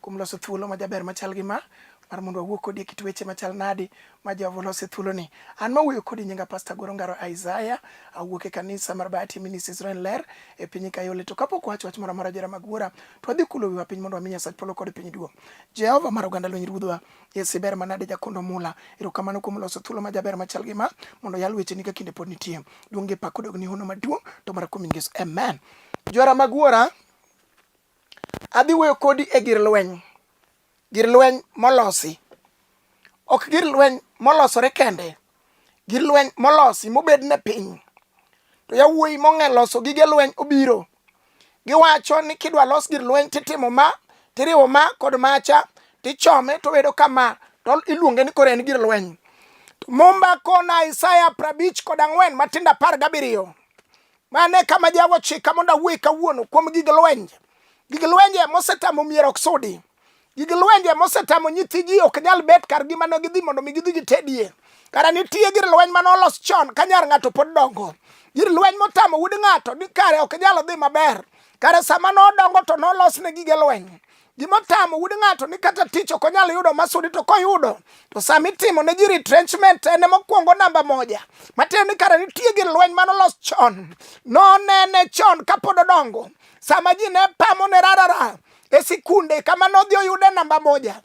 kuom loso thuolo ma jaber machal gi ma mar mondo wawuo kodi e kit weche machal nadi ma Jehova olose thuoloni. An ma wuoyo kodi nyinga Pasta Goro Ngaro Isaiah, awuok e kanisa mar Bahati Ministries Israel Ler e piny Kayole. To kapok wacho wach moro amora jera mag wuora, to wadhi kulo wiwa piny mondo wami Nyasach polo kod piny duong'. Jehova mar oganda lweny Ruodhwa, Yesu iber manade jakondo mula. Erokamano kuom loso thuolo ma jaber machal gi ma mondo yal wecheni ka kinde pod nitie. Duong' gi pak odog ni hono maduong' to mara kuom Yesu. Amen. Jora mag wuora, Adhi wuoyo kodi e gir lweny, gir lweny molosi. Ok gir lweny molosore kende, gir lweny molosi mobed ne piny. To yawuoyi mong'e loso gige lweny obiro. Giwacho ni kidwa los gir lweny titimo ma, tiriwo ma kod macha, tichome to bedo kama, to iluonge ni koro en gir lweny. To Mumba kona Isaya prabich kod ang'wen matindo apar gabiriyo. Mano e kama Jehova ochika mondo awuoye kawuono kuom gig lwenj. Gig lwenj ema osetamo mier ok sudi. Gig lwenj ema osetamo nyithi ji ok nyal bet kar gi mane gidhi mondo mi gidhi gitedie. Kara nitie gir lweny mane olos chon ka nyar ng'ato pod dongo. Gir lweny motamo wuod ng'ato ni kare ok nyal dhi maber. Kare sama nodongo to nolos ne gige lweny. Gima tamo wuod ng'ato ni kata tich ok onyal yudo masudi to koyudo to sama itimo ne ji retrenchment en mokwongo namba moja matiende ni kare nitie gi lweny mane olos chon nonene chon kapod odongo sama ji ne pamo ne rarara e sikunde kama nodhi oyude namba moja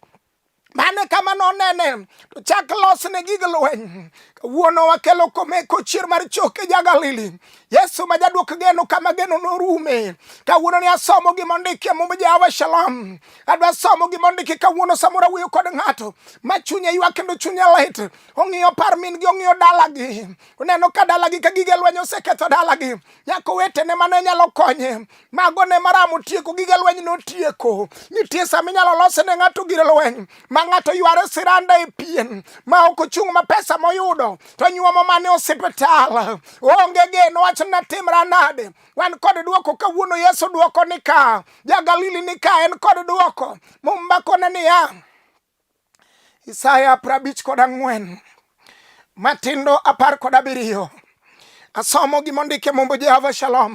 mane kama nonene to chak losne gig lweny kawuono wakelo komeko chier mar choke ja Galili Yesu ma jadwok geno kama geno norume kawuono ni asomo gima ondiki e mumb Jehova Shalom adwa somo gima ondiki kawuono samoro awuoyo kod ng'ato ma chunye ywak kendo chunye lit ong'iyo par min gi ong'iyo dalagi oneno ka dalagi ka gige lweny oseketho dalagi nyako wetene mane nyalo konye mago ne maramo tieko gige lweny notieko nitie sama inyalo lose ne ng'ato gir lweny ma ng'ato yware siranda e pien ma ok ochung' ma pesa moyudo to nyuomo mane osiptal onge geno wacho na timra nade wan kod dwoko kawuono yesu dwoko ni ka ja galili ni ka en kod dwoko mumbakone niya Isaya prabich kod ang'wen matindo apar kod abiriyo asomo gima ondik e mumb Jehova Shalom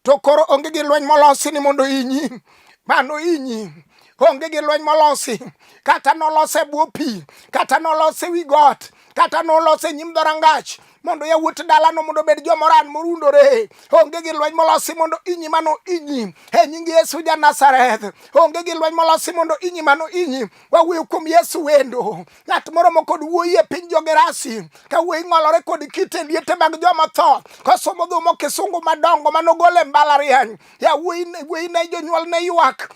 to koro onge gi lweny molosi ni mondo inyi mano inyi onge gi lweny molosi kata nolose bwo pi kata nolose wi got kata nolose nyim dhorangach mondo yawuot dalano mondo obed jomoran morundore onge gi lweny molosi mondo inyi mano inyi e nying yesu ja nazareth onge gi lweny molosi mondo inyi mano inyi wawuoyo kuom yesu wendo ng'at moro mokod wuoyi e piny jogerasi ka wuoyi ng'olore kod kite liete mag joma tho kosomo dhumo kisungu madongo manogol e mbalariany yawuoyi ne jonyuol ne ywak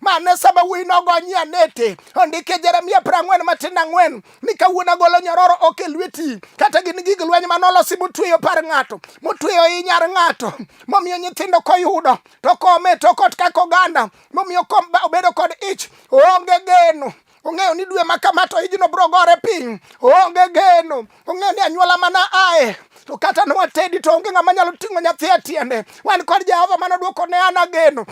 Mane sama wuoyi nogonyie anete ondike Jeremia prang'wen matin ang'wen ni kawuono agolo nyororo ok e lweti kata gin gig lweny ma nolosi motweyo par ng'ato motweyo i nyar ng'ato momiyo nyithindo koyudo to kome to kot kaka oganda momiyo obedo kod ich onge geno ong'eyo ni dwe ma kama to ijno bro gore piny onge geno ong'eyo ni anyuola mana aye to kata nowatedi to onge ng'ama nyalo ting'o nyathi e tiende wan kod jehova mane odwoko ne an ageno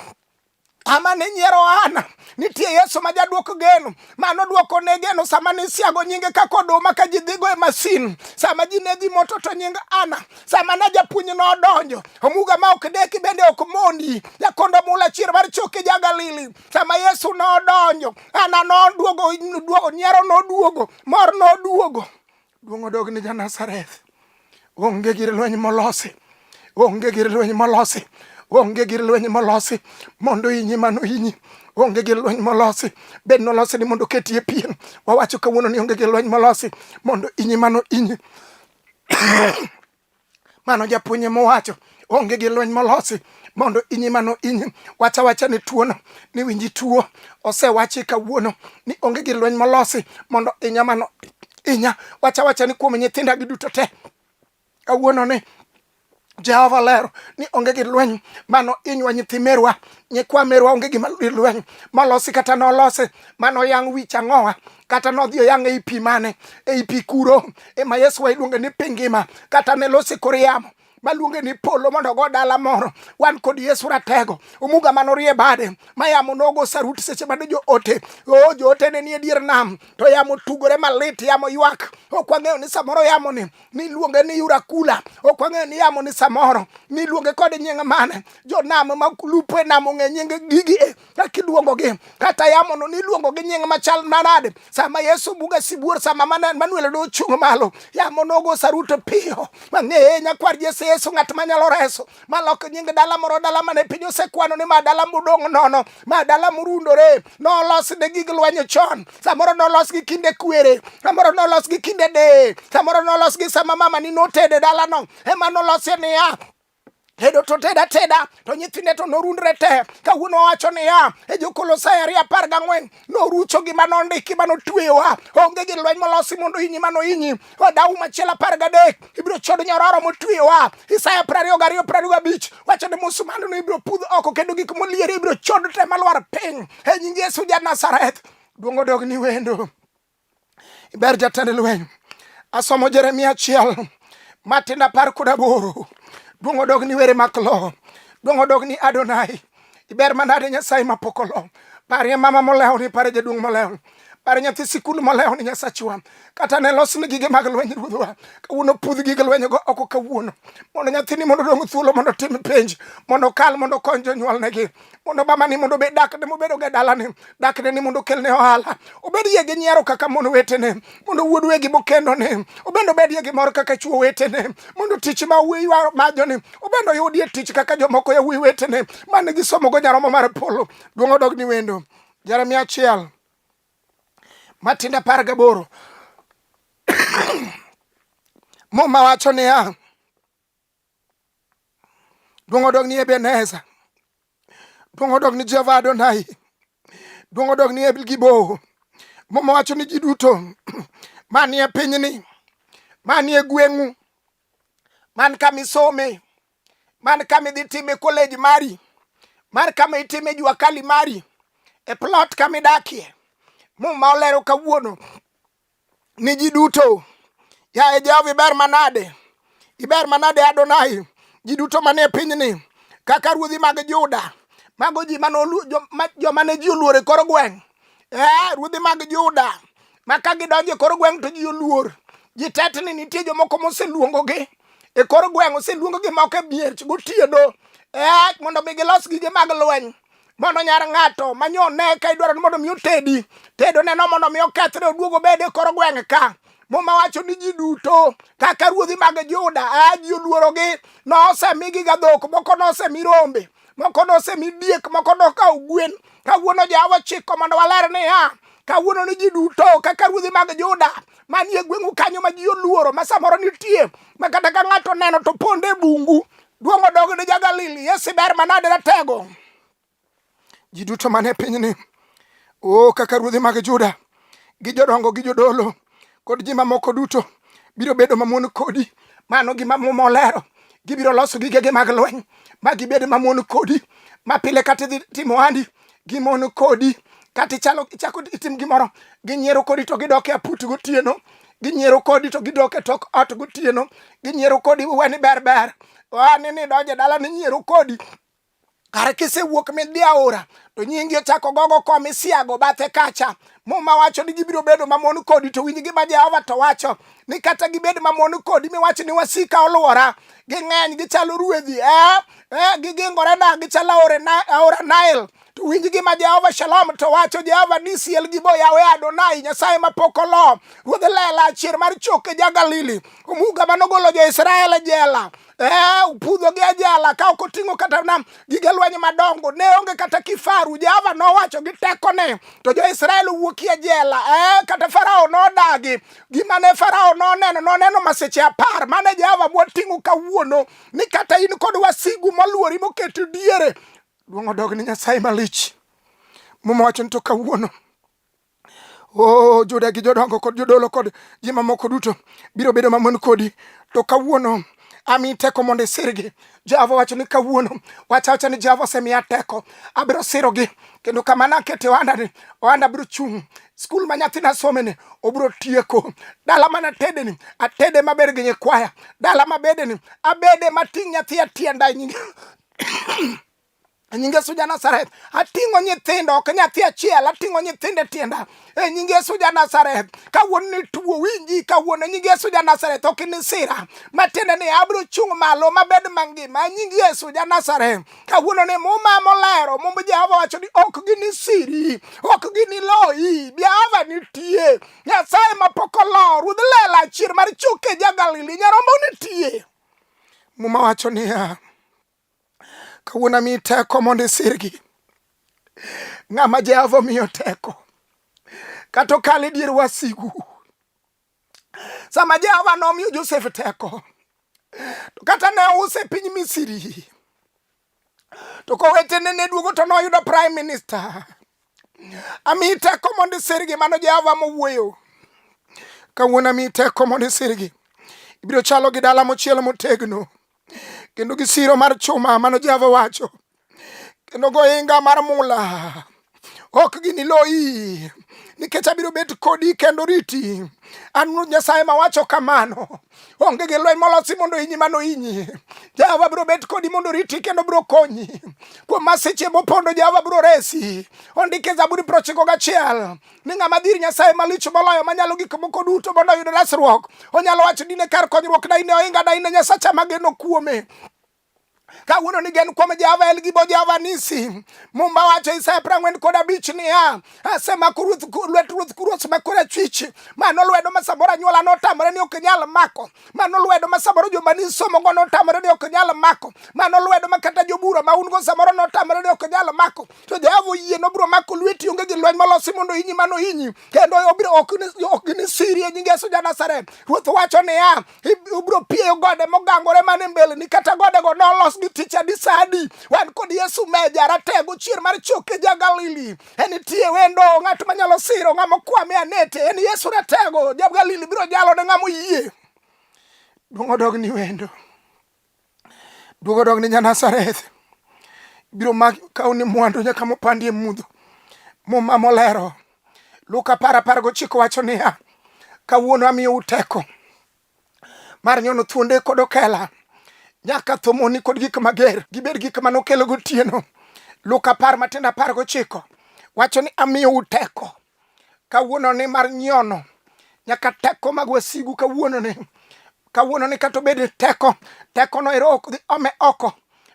ama ne nyiero ana nitie yesu ma jaduoko geno mano duoko ne geno sama ne siago nyinge kaka oduma ka ji dhigo e masin sama ji ne dhi moto to nying ana sama na japuonj no odonjo omuga ma ok deki bende ok mondi jakondo mula chier mar choke ja galili sama yesu ne odonjo ana noduogo nyiero noduogo mor noduogo Duong' odog ni ja Nazareth. Onge gir lweny molosi. Onge gir lweny molosi. Onge gir lweny molosi mondo inyi mano inyi onge gi lweny molosi bed nolosi ni mondo ketie pien wawacho kawuono ni onge gi lweny molosi mondo inyi mano inyi mano japuonye mowacho onge gi lweny molosi mondo inyi mano inyi wacha wacha ni tuono ni winji tuo osewachi kawuono ni onge gi lweny molosi mondo inya mano inya wacha wacha ni kuom nyithinda gi duto te kawuono ni jehova lero ni onge gi lweny mano inywa nyithi merwa nyikwa merwa onge gima lweny malosi kata nolosi mano yang' wich ang'owa kata nodhi oyang' ei pi mane ei pi kuro ema yesu wa iluonge ni pi ngima kata ne losi kor yamo maluonge ni polo mondo ogo dala moro wan kod yesu ratego omuga mano rie bade ma yamo nogo saruti seche mane joote o joote ne nie dier nam to yamo tugore malit yamo ywak ok wang'eyo ni samoro yamo ni niluonge ni yurakula ok wang'eyo ni yamo ni samoro niluonge kod nying mane jonam ma lupo e nam ong'e nying gigi e kaka iluongogi kata yamono niluongo gi nying machal manade sama yesu buga sibuor sama manuel do chung' malo yamo nogo saruto piyo mang'eye nyakwar jesu yesu ng'at manyalo reso malok nying dala moro dala mane piny osekwano ni ma dala mudong' nono ma dala murundore nolos ne gig lwenyo chon samoro nolos gi kinde kwere samoro nolos gi kinde deye samoro nolos gi sama mama ni notede dalano ema nolosie niya tedo to ted ateda to nyithinde to norundre te kawuono wacho niya e jokolosai ariyo apar gang'wen norucho gima nondiki ma notweyowa onge gi lweny molosi mondo inyi ma noinyi odawu machielo apar gadek ibiro chodo nyororo motweyowa isaya prariyo gariyo prariyo gabich wacho ni musumanduno ibiro pudh oko kendo gik molieri ibiro chod te malwar piny e nying yesu ja nazareth duong' odog ni wendo Ber jatend lweny. Asomo Jeremia achiel matindo apar kod aboro. Duong' odog ni were mak lo. Duong' odog ni Adonai. Iber manade Nyasaye mapok olo. Parie mama molewo ni pare jaduong' molewo. Pare nyathi sikul molewo ni Nyasachwa. Kata ne los ni gige mag lweny ruodhwa. Kawuono pudh gige lweny go oko kawuono. Mondo nyathini mondo odong' thuolo mondo otim penj. Mondo okal mondo okony jonyuolnegi. mondo mamani mondo obed dakne mobedo ga dalane dakne ni mondo okelne ohala obed ye gi nyiero kaka mon wetene mondo wuod wegi mokendone obende obed ye gi mor kaka chuo wetene mondo tich ma wuoyi majoni obende oyudie tich kaka jomoko ya wuoyi wetene mane gisomogo nyaromo mar polo duong' odog ni wendo jeremia achiel matinde apar gaboro muma wacho niya Duong' odog ni Ebeneza. Duong' odog ni Jehova Adonai. Duong' odog ni Elgibo. Muma wacho ni ji duto manie pinyni, manie gweng'u, man kama isome, man kama idhi time koleji mari, man kama itime jua kali mari, e plot kama idakie. Muma olero kawuono ni ji duto. Yaye Jehova, iber manade, iber manade Adonai, ji duto manie pinyni kaka ruodhi mag Juda, mago ji mane olu- jo- ma- joma ne ji oluoro e kor gweng'. Eh, ruodhi mag Juda ma ka gidonjo e kor gweng' to ji oluor. Ji tetni nitie jomoko moseluongogi e kor gweng' oseluongogi moko e miech gotieno eh, mondo mi gilos gige mag lweny mondo nyar ng'ato manyo ne ka idwaro ni mondo mi otedi tedo neno mondo mi okethre oduogo obed e kor gweng' ka muma wacho ni ji duto kaka ruodhi mag juda a ji oluorogi nosemigi ga dhok moko nosemi rombe moko nosemi diek moko nokawo gwen kawuono jawa chiko mondo waler niya kawuono ni ji duto kaka ruodhi mag juda manie gweng'u kanyo ma ji oluoro ma samoro nitie ma kata ka ng'ato neno to ponde bungu Duong' odog ni ja-Galili, Yesu iber manade ratego. Ji duto man e pinyni, o kaka ruodhi mag Juda, gi jodongo gi jodolo, kod ji mamoko duto biro bedo mamon kodi. Mano gima Muma olero. Gibiro loso gigegi mag lweny ma gibed mamon kodi, ma pile kata idhi timo ohandi gimon kodi kata ichalo ichako itim gimoro ginyiero kodi to gidok e aput gotieno ginyiero kodi to gidok e tok ot gotieno ginyiero kodi weni ber ber wani ni donje dala ni nyiero kodi kare kisewuok midhi aora to nyingi ochako gogo kom isiago bathe kacha muma wacho ni gibiro bedo mamon kodi to winj gima jehova to wacho ni kata gibed mamon kodi miwacho ni wasika olwora ging'eny gichalo ruedhi eh? eh, gigingorena gichalo aora Nile to winj gima Jehova Shalom to wacho Jehova ni siel gi boyawe Adonai Nyasaye ma pok olo ruodh lela achier mar choke ja Galili omuga manogolo jo Israel e jela eh, upudho gi ajala ka ok oting'o kata na gige lweny madongo ne onge kata kifaru Jehova nowacho gi tekone to jo Israel owuoki e jela eh, kata Farao nodagi gima ne Farao noneno noneno maseche apar mane Jehova bwoting'o kawuono ni kata in kod wasigu moluori moket diere duong' odog ni nyasaye malich momawacho ni to kawuono Oh, Juda gi jodongo kod jodolo kod ji mamoko duto biro bedo mamon kodi to kawuono ami teko mondo isirgi jehova wacho ni kawuono wacha wacha ni jehova osemiya teko abiro sirogi kendo kamano akete ohandani ohanda biro chung' skul ma nyathina someni obiro tieko dala mana atedeni atede maber gi nyikwaya dala mabedeni abede mating' nyathi atienda e nyinge e nying Yesu ja Nazareth ating'o nyithindo ok nyathi achiel ating'o nyithindo e tienda e nying Yesu ja Nazareth kawuono ni tuo winji kawuono e nying Yesu ja Nazareth ok inisira matiende ni abiro chung' malo mabed mangima e nying Yesu ja Nazareth kawuono ni muma molero mumb jehova wacho ni ok ginisiri ok giniloyi jehova nitie nyasaye mapok olo ruodh lela chier mar choke ja galili nyarombo nitie muma wacho niya kawuono ami teko mondo isirgi ng'ama jehova omiyo teko kata okal e dier wasigu sama Jehova nomiyo Josef teko to kata ne ouse e piny Misri to kowetene ne duogo to noyudo prime minister ami teko mondo isirgi mano Jehova mowuoyo kawuono ami teko mondo isirgi ibiro chalo gi dala mochiel motegno kendo gi siro mar chuma mano Jehova wacho kendo gohinga mar mula ok giniloyi nikech abiro bet kodi kendo riti an ruoth nyasaye mawacho kamano onge gi lweny molosi mondo inyi mano inyi jehova biro bet kodi mondo riti kendo biro konyi kuom masiche mopondo jehova biro resi ondike zaburi prochiko gachiel ni ng'ama dhir nyasaye malich moloyo manyalo gik moko duto mondo oyud resruok onyalo wacho dine kar konyruok daine ohinga daine nyasacha mageno kuome kawuono ni gen kuom Jehova en gi bo Jehova nisi. Mumba wacho Isaya piero ang'wen kod abich niya, asemako lwet ruoth kuruoth ma korachwich, mano lwedo ma samoro anyuola notamore ni ok nyal mako, mano lwedo ma samoro joma nisomogo notamore ni ok nyal mako, mano lwedo ma kata jobura ma un go samoro notamore ni ok nyal mako, to Jehova oyie nobiro mako lweti, onge gi lweny molosi mondo inyi mano inyi, kendo obiro ok ginisiri e nying Yesu ja Nazareth. Ruoth wacho niya, ubiro pieyo gode mogangore mane mbeleni kata godego nolos gi ticha di sadi wan kod yesu meja ratego chier mar choke ja galili en itie wendo ng'at manyalo siro ng'ama okwame anete en yesu ratego ja galili biro jalo ne ng'ama oyie duong' odog ni wendo duogo dog ni Janazareth biro mak kaw ni mwandu nyaka mopandi e mudho muma molero Luka apar apar gochiko wacho niya kawuono amiyo uteko mar nyono thuonde kod okela nyaka thomoni kod gik mager gibed gik ma nokelo gotieno Luka apar matindo apar gochiko wacho ni amiyo uteko kawuononi mar nyono nyaka teko mag wasigu kawuononi kawuononi kata obed ni teko tekono ero ok dhi ome oko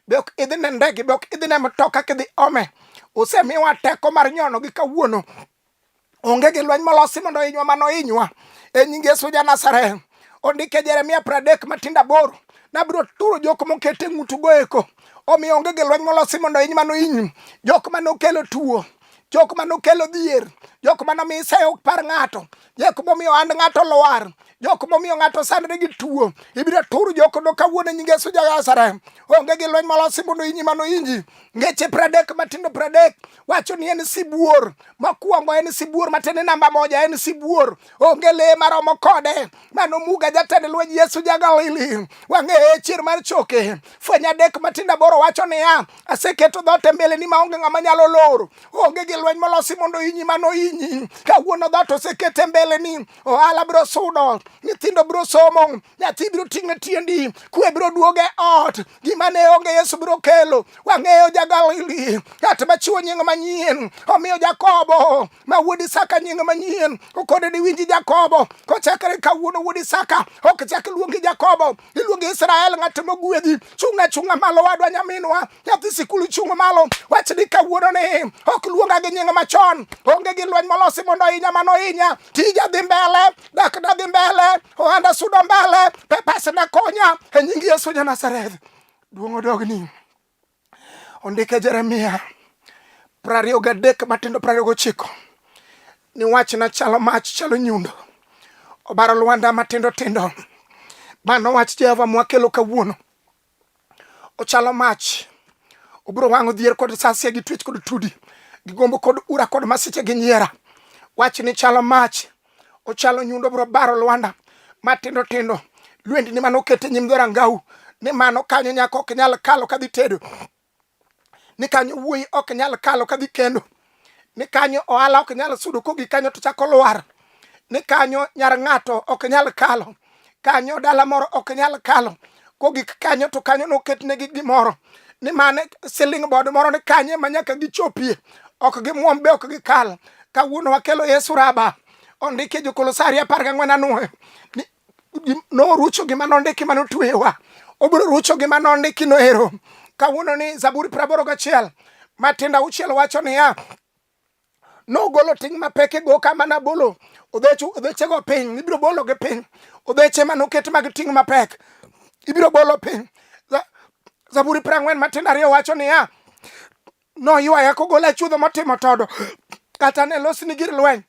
be ok idhi ne ndege be ok idhi ne mtoka kidhi ome osemiwa teko mar nyono gi kawuono onge gi lweny molosi mondo inywa mano inywa e nying yesu ja nazareth ondike jeremia pradek matinda boro nabiro turo jok mokete ng'utugo eko omiyo onge gi lweny molosi mondo iny mano inyu jok mane okelo tuo jok ma nokelo dhier jok ma nomiyo isayo ok par ng'ato jok momiyo and ng'ato lwar jok momiyo ng'ato sandre gi tuo ibiro tur jok do kawuono nyinge Yesu jagasare onge gi lweny molosi mondo inyi mano inji ngeche pradek matindo pradek wacho ni en sibuor mokwongo en sibuor matene namba moja en sibuor onge le maromo kode mano muga jatend lweny yesu jagalili wang'eye chier mar choke fweny adek matinda boro wacho niya aseketo dhoot e mbeleni maonge ng'ama nyalo loro onge gi lweny molosi mondo inyi mano inyi kawuono dhoot oseket e mbeleni ohala biro sudo nyithindo biro somo nyathi biro ting'e tiendi kwe biro duoge ot gima ne onge Yesu biro kelo. Wang'eyo ja Galili, ng'at machiwo nying manyien. Omiyo Jakobo ma wuod Isaka nying manyien, okone ni winji Jakobo, kochakre kawuono wuod Isaka ok chak luongi Jakobo, iluongi Israel, ng'at mogwedhi. Chung' achung'a malo wadwa nyaminwa, nyathi sikul chung' malo, wach ni kawuono ni ok luonga gi nying machon, onge gi lweny molosi mondo ohinya mano hinya, tija dhi mbele, dak dagi mbele ohanda sudo mbele pepas na konya e nying yesu ja nazareth duong' odogni ondike jeremia prariyo gadek matindo prariyo gochiko ni wach na chalo mach chalo nyundo obaro lwanda matindo tindo mano wach jehova mwakelo kawuono ochalo mach obiro wang'o dhier kod sasia gi twech kod tudi gi gombo kod ura kod masiche gi nyiera wach ni chalo mach ochalo nyundo bro baro lwanda matindo tindo lwendi ni mano kete nyim dhorangau ni mano kanyo nyako ok nyal kalo kadhi tedo ni kanyo wuoyi ok nyal kalo kadhi kendo ni kanyo ohala ok nyal sudo kogi kanyo to chako lwar ni kanyo nyar ng'ato ok nyal kalo kanyo dala moro ok nyal kalo kogik kanyo to kanyo noketnegi gimoro ni mane siling bod moro ni kanye ma nyaka gichopie ok gimwom be ok gikal kawuono wakelo yesu raba ondike jokolosaria apar gang'wen anwoyo ni norucho gima nondiki mane otweyowa obiro rucho gima nondiki noero kawuono ni zaburi praboro gachiel matindo auchiel wacho niya nogolo ting' mapek e goka mana bolo odhechego piny ibiro bologi piny odheche ma noket mag ting' mapek ibiro bolo piny zaburi prang'wen matindo ariyo wacho niya noywaya kogola chuodho motimo todo kata ne losni gir lweny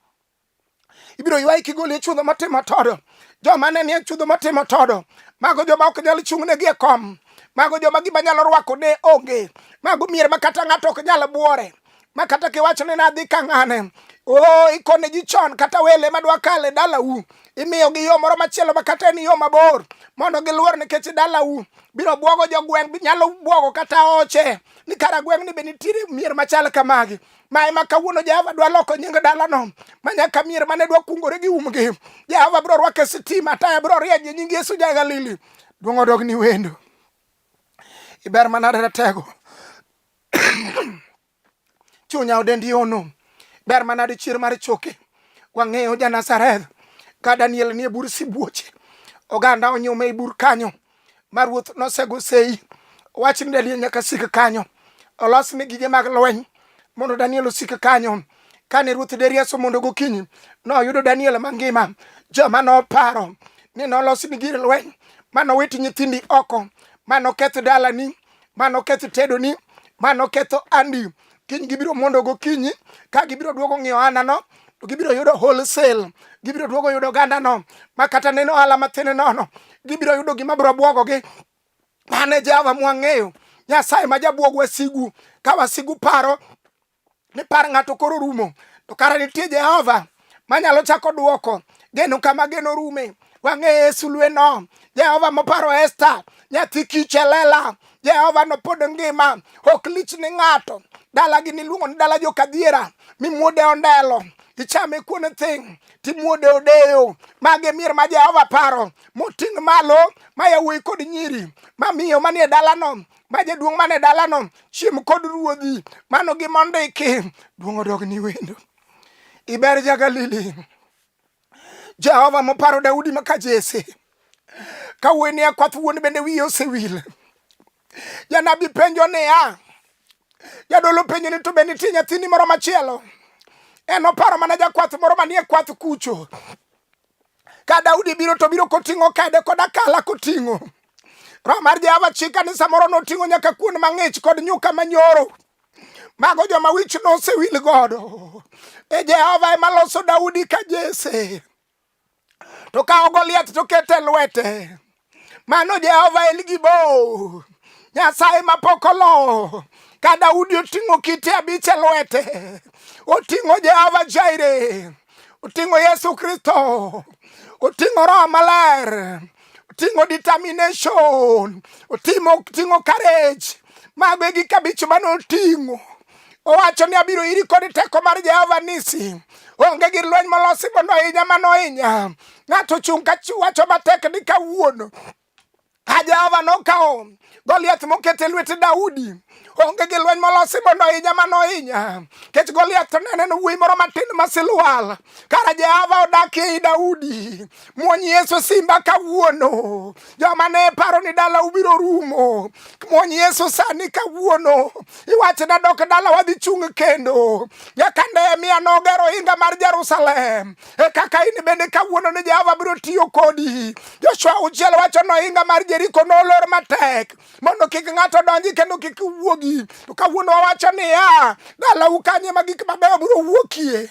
ibiro ywayi kigoli e chudho matimo todo joma ne nie chudho matimo todo mago joma ok nyal chung'negi e kom mago joma gima nyalo rwako ne onge mago mier ma kata ng'ato ok nyal buore ma kata kiwacho ni nadhi ka ng'ane o oh, ikone ji chon kata wele madwa kale dalau imiyo gi yo moro machielo ma kata en yo mabor mondo giluor nikech dalau biro bwogo jogweng' nyalo bwogo kata oche ni kara gweng' ni be nitiere mier machal kamagi ma ema kawuono Jehova dwa loko nying dalano ma nyaka mier mane dwa kungore gi umgi. Jehova biro rwake sitima, taya biro rieny e nying Yesu ja Galili. Duong' odog ni wendo. Iber manade ratego. Chunya odendi ono. Ber manade chier mar choke. Wang'eyo ja Nazareth ka Daniel nie bur sibuoche. Oganda onyume i bur kanyo. ma ruoth nosego sei wach ni Daniel nyaka sik kanyo olos ni gige mag lweny mondo Daniel osik kanyo kane ruoth Darius mondo gokinyi noyudo Daniel mangima joma noparo ni nolos ni gir lweny mano wit nyithindi oko mano keth dalani mano keth tedoni mano ketho andi kiny gibiro mondo gokinyi ka gibiro duogo ng'iyo ohandano to gibiro yudo wholesale gibiro duogo yudo ogandano ma kata neno ohala matin nono gibiro yudo gima biro bwogogi mane jehova mwang'eyo nyasaye ma jabwog wasigu ka wasigu paro ni par ng'ato koro rumo to kara nitie jehova manyalo chako duoko geno kama geno rume wang'eye sulweno jehova moparo esta nyathi kich elela jehova nopod ngima ok lich ni ng'ato dalagi niluongo ni dala jokadhiera mimuode ondelo ichame kuon thing timuode odeyo mage mier ma jehova paro moting' malo ma yawuoyi kod nyiri mamiyo manie dalano ma jaduong' mane dalano chiem kod ruodhi mano gimondiki duong' odog ni wendo iber jagalili jehova moparo daudi maka jese ka wuoyni akwath wuon bende wiye osewil janabi penjo niya jadolo penjo ni to be nitie nyathini moro machielo en oparo mana jakwath moro manie kwath kucho ka daudi biro to biro koting'o kede kod akala koting'o roho mar jehova chika ni samoro noting'o nyaka kuon mang'ich kod nyuka manyoro mago joma wich nosewil godo e jehova ema loso daudi ka jese to kawo goliath to kete lwete mano jehova en gibo nyasaye mapok olo ka daudi oting'o kite abich e lwete oting'o jehova jaire oting'o Yesu Kristo, oting'o Roho Maler, oting'o determination, oting'o courage. Mago e gik abich mane oting'o. Owacho ni abiro iri kod teko mar Jehova Nisi. Onge gir lweny molosi mondo ohinya mano ohinya. Ng'ato ochung' ka wacho matek ni kawuono Ka Jehova nokawo Goliath moket e lwet Daudi, onge gi lweny molosi mondo ohinya ma nohinya kech Goliath to nene wuoyi moro matin ma silwal kara Jehova odakie i Daudi muony Yesu simba kawuono joma ne paro ni dala ubiro rumo muony Yesu sani kawuono iwache na dok dala wadhi chung' kendo nyaka Nehemia nogero ohinga mar Jerusalem e kaka in bende kawuono ni Jehova biro tiyo kodi. Joshua auchiel wacho ni ohinga mar Jeriko nolor matek mondo kik ng'ato donji kendo kik wuogi. To kawuono wawacho niya, dalau kanye ma gik mabeyo biro wuokie.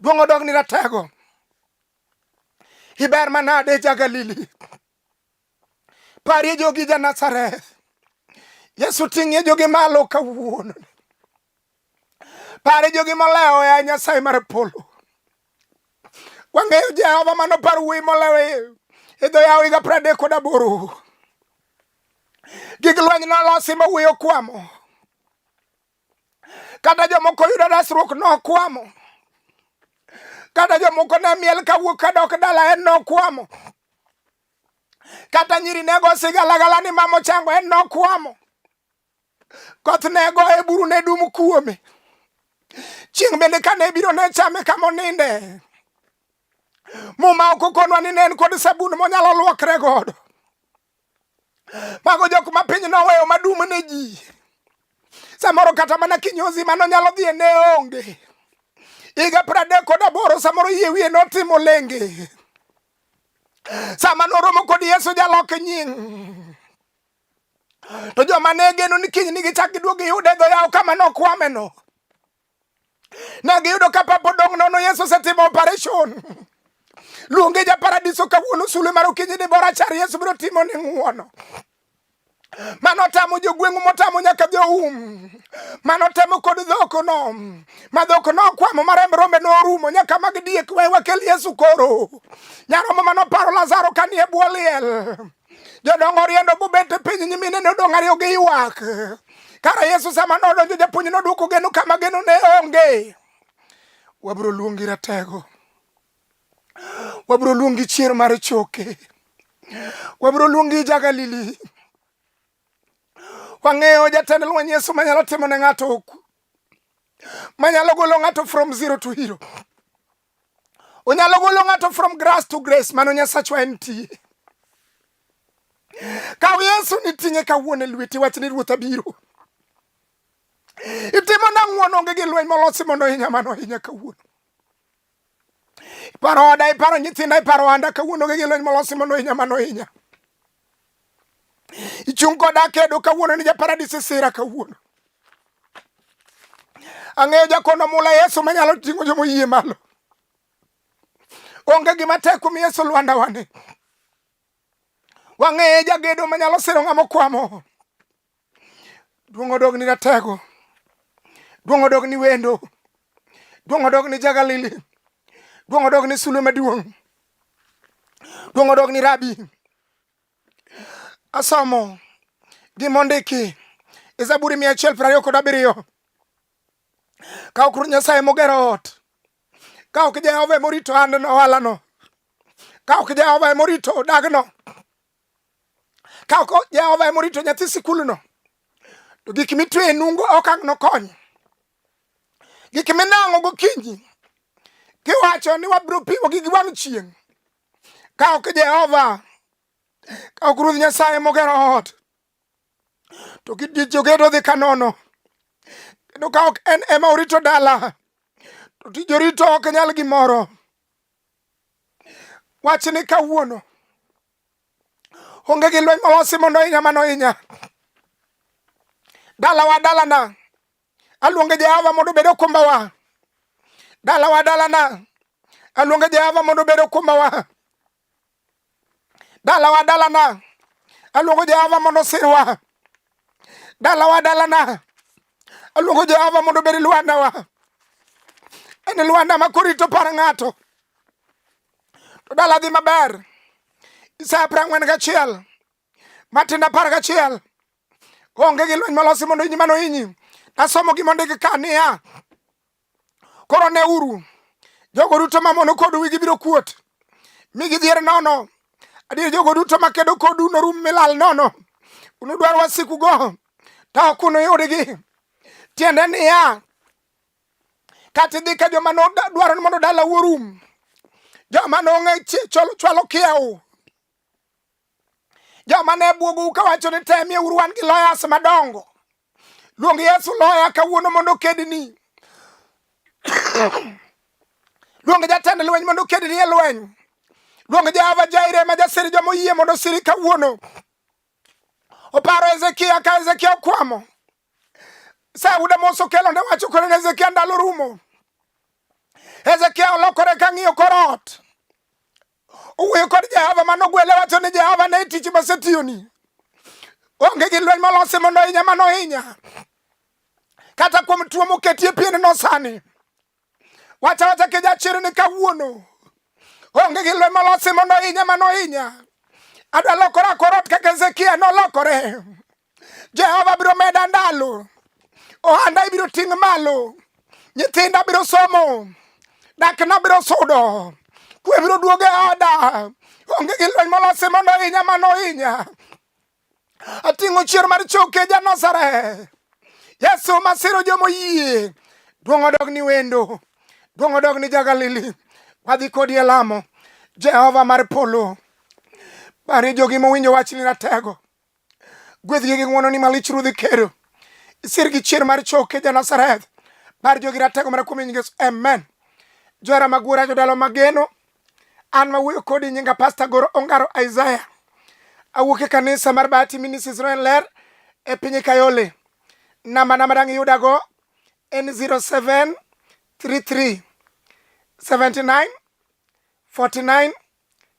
Duong' odog ni ratego. Iber manade ja Galili. Parie jogi ja Nazareth. Yesu ting'ie jogi malo kawuono. Pare jogi molewo ya Nyasaye mar polo. Wang'eyo Jehova mano par wuoyi molewo e dho yawo higa pradek kod aboro. Gig lweny nolosi ma wuoyo kwamo. Kata jomoko yudo resruok nokwamo. Kata jomoko ne miel kawuok kadok dala en nokwamo. kata nyiri ne go sigalagala ni mamo chango en nokwamo koth ne go e buru ne dum kuome chieng' bende kane biro ne chame kama oninde muma ok okonwa ni ne en kod sabun monyalo luokre godo mago jok ma piny noweyo madum ne ji samoro kata mana kinyozi mano nyalo dhi e ne onge higa pradek kod aboro samoro yie wiye notimo lenge sama noromo kod Yesu jaloke nying to joma ne geno ni kiny ni gichak giduog giyude e dho yawo kama nokwameno ne giyudo ka papa odong' nono Yesu osetimo operation luonge ja paradiso kawuono sulwe mar okinyi ni bora char Yesu biro timo ni ng'uono mano otamo jogweng'u motamo nyaka joum mano otamo kod dhokono ma dhokono okwamo ma remb rombe norumo nyaka mag diek we wakel yesu koro nyaromo mano paro lazaro ka nie bwo liel jodongo oriendo bobet e piny nyimine ne odong' ariyo gi ywak kara yesu sama nodonjo japuonj nodwoko geno kama geno ne onge wabiro luongi ratego wabiro luongi chier mar choke wabiro luongi jagalili wang'eyo jatend lweny yesu manyalo timo ne ng'ato oku manyalo golo ng'ato from zero to hero onyalo golo ng'ato from grass to grace mano nyasachwa en tie kaw yesu niting'e kawuono e lweti wach ni ruoth abiro itimo nang'uon onge gi lweny molosi mondo hinya mano hinya kawuono iparo oda iparo nyithinda iparo ohanda kawuono gi gilony molosi mondo hinya mano hinya ichung' koda kedo kawuono ni japaradis isira kawuono ang'eyo jakono mula yesu manyalo ting'o jomoyie malo onge gima tek kuom yesu lwanda wane wang'eye jagedo manyalo siro ng'ama okwamo Duong' odog ni ratego. Duong' odog ni wendo. Duong' odog ni jagalili. Duong' odog ni sulwe maduong'. Duong' odog ni rabi. Asomo gimondiki e Zaburi mia achiel piero ariyo kod abiriyo. Ka ok Ruoth Nyasaye mogero ot, ka ok Jehova emorito andno ohalano, ka ok Jehova emorito dagno, ka ok jehova ema orito nyathi sikulno to gik mitwe e nungo ok ang' nokony gik minang'o gokinyi kiwacho ni wabiro piwo gi giwang' chieng' ka ok jehova ka ok ruoth nyasaye mogero ot to jogedo dhi ka nono kendo ka ok en ema orito dala to tij orito ok nyal gimoro Wach ni kawuono onge gi lweny molosi mondo inya mano inya dalawa dalana aluonge Jehova mondo obed okumbawa dalawa dalana aluonge Jehova mondo obed okumbawa dalawa dalana aluongo jehova mondo sirwa dalawa dalana aluongo jehova mondo obed lwandawa en lwanda ma korito par ng'ato to dala dhi maber isaya piero ang'wen gachiel Matinda apar gachiel onge gi lweny malosi mondo inyi mano inyi. Nasomo gima ondik ka niya, koro ne uru jogo duto mamono kodu wi gibiro kuot mi gidhier nono. Adier jogo duto makedo kodu norum milal nono. Unudwar wasikugo to ok unuyudgi. Tiende niya, kata idhi ka joma nodwaro ni mondo dala wuorum joma nong'e chwalo kiewo Joma ne bwogou kawacho ni temie uru wan gi loyas madongo. Luong Yesu loya kawuono mondo okedni. Luong jatend lweny mondo okedni e lweny. Luong Jehova Jaire ma jasiri joma oyie mondo osiri kawuono. Oparo Hezekia ka Hezekia okwamo. Sauda moso kelo ne wacho kore ne Hezekia ndalo rumo. Hezekia olokore ka ng'iyo korot. Owuoyo kod Jehova mano ogwele wacho ni Jehova ne tich masetiyoni. Onge gi lweny molosi mondo hinya mano hinya. Kata kuom tuo moketie pien no sani. Wacha wacha ke jachir ni kawuono. Onge gi lweny molosi mondo hinya mano hinya. Adwa lokora korot kaka Hezekia nolokore. Jehova biro meda ndalo, ohanda ibiro ting' malo, nyithinda biro somo, dakna biro sudo, kwe biro duogo e oda, onge gi lweny molosi mondo ohinya mano ohinya. Ating'o chier mar choke ja Nazareth, Yesu masiro jomoyie, duong' odog ni wendo, duong' odog ni jagalili, wadhi kodi e lamo, Jehova mar polo, pare jogi mowinjo wachni ratego. Gwedhgi gi ng'wononi malich Ruodhi Kero. Isir gi chier mar choke ja Nazareth. Par jogi ratego mana kuom nyingeso. Amen. Johera magwora jodalo mageno. An ma wuoyo kodi nyinga Pasta Goro Ongaro Isaiah. Awuok e kanisa mar Bahati Ministries Royal Ler e piny Kayole. Namba namba dang' iyudago en 07 33 79 49